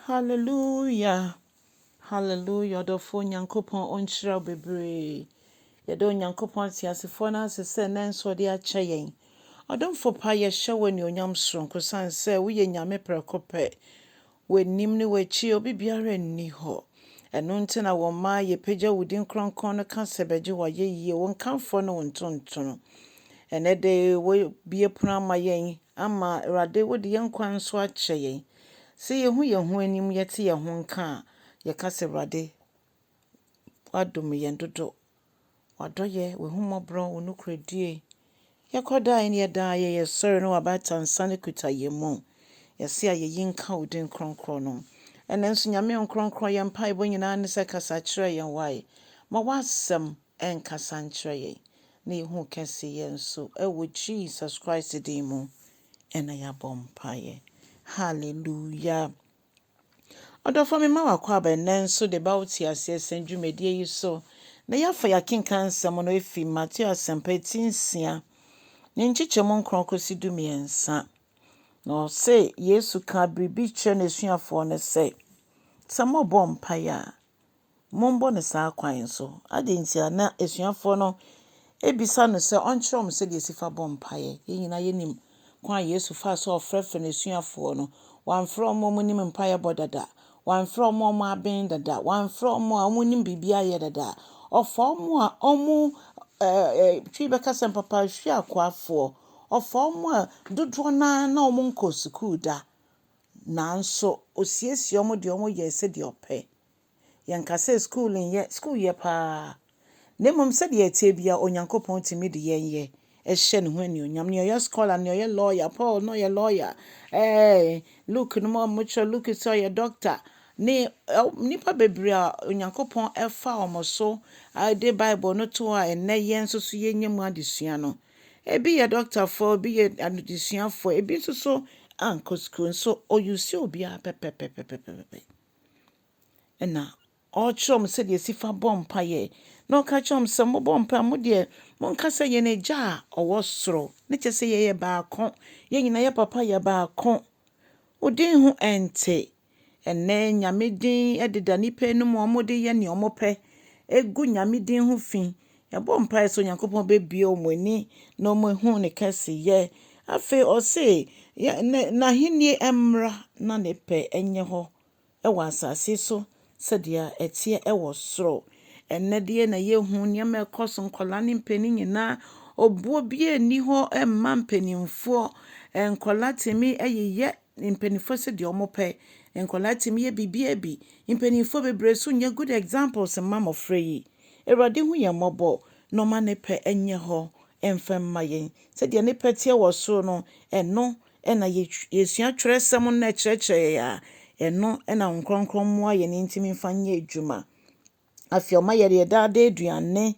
Hallelujah Hallelujah ɔdɔfoɔ Nyankopɔn ɔnhyira wo bebree yɛda Onyankopɔn ateasefoɔ no ase sɛ ɛnɛ nso ɔde akyɛ yɛn ɔdomfo pa yɛhyɛ wo anuonyam soronko sane sɛ woyɛ Nyame prɛko pɛ w'anim ne w'akyi obi biara nni hɔ Ɛno nti na wɔn mma yɛpagya wo din kronkron no ka sɛ bɛgye wo ayɛyie, wo nkamfoɔ ne wo ntontono. Ɛnnɛ de wobue pono ama yɛn, ama Awurade wode yɛn nkwa nso akyɛ yɛn. Sɛ yɛhu yɛn ho anim, yɛte yɛn ho nka a, yɛka sɛ Awurade woadom yɛn dodo W'adɔyɛ, w'ahummɔborɔ, wo nokorɛdie. Yɛkɔ daa ne yɛ daa yɛ, yɛsɔre ne w'abatansa no kuta yɛn mu. Yɛse ayɛyi nka wo din kronkron no. Ɛnnɛ nso Nyame Nkronkron yɛn mpaebɔ nyinaa ne sɛ kasa kyerɛ yɛn wai. Ma w'asɛm nkasa nkyerɛ yɛn na yɛhu wo kɛseyɛ nso ɛwɔ Jesus Christ din mu ɛna yɛabɔ mpaeɛ. Hallelujah. Ɔdɔfoɔ mema wo akwaaba ɛnnɛ nso de ba wo Te Aseɛ Sɛm dwumadie yi so na yɛafa yɛakenkan nsɛm no afi Mateo Asɛmpa eti nsia ne nkyekyɛmu nkron kɔsi du mmiɛnsa. Na ɔse Yesu kaa biribi kyerɛ n'asuafoɔ no sɛ, Sɛ mobɔ mpaeɛ a, Mommɔ no saa kwan so. Adɛn ntia? Na asuafoɔ no bisa no sɛ ɔnkyerɛ wɔn sɛdeɛ ɛsi fa bɔ mpaeɛ. Yɛn nyinaa yɛnim kwan a Yesu faa so a ɔfrɛfrɛɛ n'asuafoɔ no. Wamfrɛ wɔn a wɔnim mpaeɛbɔ dada. Wamfrɛ wɔn a wɔaben dada. Wamfrɛ wɔn a wɔnim biribiara yɛ dada. Ɔfaa wɔn a wɔtwe bɛka sɛ mpapahwii akoafoɔ. Ɔfaa wɔn a dodoɔ no ara na wɔnkɔɔ sukuu da. Nanso ɔsiesiee wɔn de wɔn yɛɛ sɛdeɛ ɔpɛ. Yɛnka sɛ sukuu nyɛ sukuu yɛ paa, na mmom sɛdeɛ ɛteɛ biara Onyankopɔn tumi de yɛn yɛ hyɛ ne ho anuonyam. Nea ɔyɛ scholar, nea ɔyɛ lawyer, Paul na ɔyɛ lawyer, ɛɛ Luke nom a wɔkyerɛ Luke sɛ ɔyɛ doctor, ne nnipa bebree a Onyankopɔn fa wɔn so de Bible no to hɔ a ɛnnɛ yɛn nso so yɛnya mu adesua no. Ebi yɛ dɔktafoɔ, ebi yɛ adesuafoɔ, ebi nso so ankɔ sukuu nso ɔyusu obiara pɛpɛpɛpɛpɛpɛ. Ɛna ɔrekyerɛ wɔn sɛdeɛ ɛsi fa bɔ mpaeɛ, na ɔka kyerɛ wɔn sɛ, mobɔ mpaeɛ mo deɛ, monka sɛ yɛn agya a ɔwɔ soro, ne kyɛ sɛ yɛyɛ baako, yɛn nyinaa yɛ papa yɛ baako, wo din ho ɛnte. Ɛnɛ nyame din ɛdeda nnipa anom wɔn de yɛ nea wɔn pɛ, ɛgu nyame din ho fi, Yɛabɔ mpae sɛ Onyankopɔn bebue wɔn ani na wɔahu ne kɛseyɛ. Afei ɔse, yɛ, ne, n'ahenni mmra na ne pɛ nyɛ hɔ wɔ asase so sɛdeɛ ɛteɛ wɔ soro. Ɛnnɛ deɛ na yɛhu nneɛma ɛkɔ so, nkwadaa ne mpanin nyinaa, obuo biara nni hɔ mma mpanimfoɔ. Nkwadaa tumi yeyɛ Mpaninfoɔ sɛ deɛ ɔmo pɛ. Nkwadaa tumi yɛ biribiaa bi. Mpaninfoɔ bebree nso nyɛ good examples mma mmɔfra yi. Awurade hu yɛn mmɔbɔ na ɔma ne pɛ nyɛ hɔ mfa mma yɛn. Sɛdeɛ ne pɛ teɛ wɔ soro no, ɛno na yɛsua twerɛsɛm no na ɛkyerɛkyerɛ yɛn a, ɛno na Honhom Kronkron mmoa yɛn nti mfa nyɛ adwuma. Afei ɔma yɛde yɛn daa daa aduane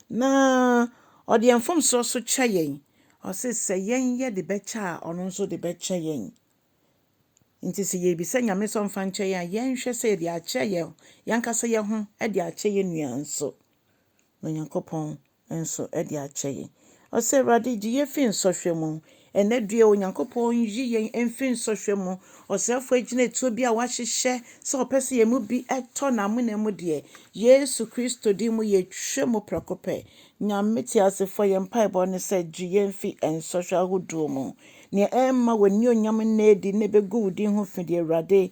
na ɔde yɛn mfomsoɔ nso kyɛ yɛn. Ɔse sɛ yɛn yɛde bɛkyɛ a ɔno nso de bɛkyɛ yɛn. Nti sɛ yɛbisa Nyame sɛ ɔmfa nkyɛ yɛn a, yɛnhwɛ sɛ yɛde akyɛ yɛn yɛn ankasa yɛn ho de akyɛ yɛn nua nso. Na Onyankopɔn nso de akyɛ yɛn. Ɔse, Awurade, gye yɛn fi nsɔhwɛ mu. Ɛnnɛ deɛ Onyankopɔn nyi yɛn mfiri nsɔhwɛ mu. Ɔsrɛfoɔ agyinatuo bi a wahyehyɛ sɛ ɔpɛ sɛ yɛn mu bi tɔ n'amena mu deɛ, Yesu Kristo din mu yɛtwa mu prɛko pɛ. Nyame teasefoɔ, yɛn mpaebɔ ne sɛ gye yɛn fi nsɔhwɛ ahodoɔ mu. Nea ɛremma w'anionyam nna adi na ɛbɛgu wo din ho fi deɛ, Awurade,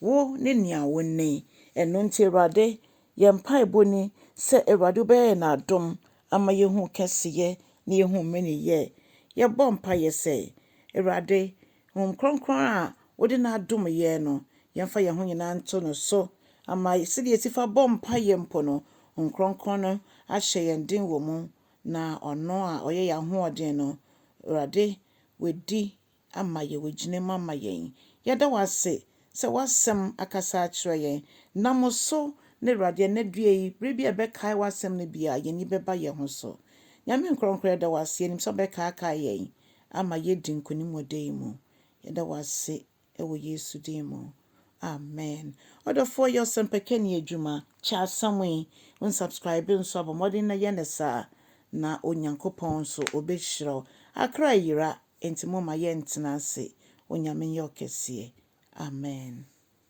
Wo ne nea wonni. Ɛno nti Awurade, yɛn mpaebɔ ni sɛ Awurade wobɛyɛ yɛn adom ama yɛahu wo kɛseyɛ na yɛahu wo mmenenyɛ. Yɛbɔ mpaeɛ sɛ, Awurade, Honhom Kronkron a wode no adom yɛn no, yɛmfa yɛn ho nyinaa nto no so ama sɛdeɛ yɛsi fa bɔ mpaeɛ mpo no, Honhom Kronkron no ahyɛ yɛn den wɔ mu, na ɔno a ɔyɛ yɛn ahoɔden no, Awurade, wadi ama yɛ wagyina mu ama yɛn. Yɛda wo ase sɛ w'asɛm akasa akyerɛ yɛn. Nam wo so ne Awurade ɛnɛ dua yi bere bi a yɛbɛkae w'asɛm no biara yɛn ani bɛba yɛn ho so. Nyame nkorɔnkorɔ yɛda wo ase yɛnim sɛ wobɛkaakae yɛn ama yɛadi nkonim wɔ da yi mu. Yɛda wo ase wɔ Yesu din mu. Amen. Ɔdɔfoɔ yɛ ɔsɛmpakani adwuma. Kyɛ asɛm yi. Wo subscribe nso a bɔ mmɔden na yɛ no saa na Onyankopɔn nso ɔbɛhyira wo. Accra ayira. Enti momma yɛntena ase, Onyame nyɛ ɔkɛseɛ. Amen.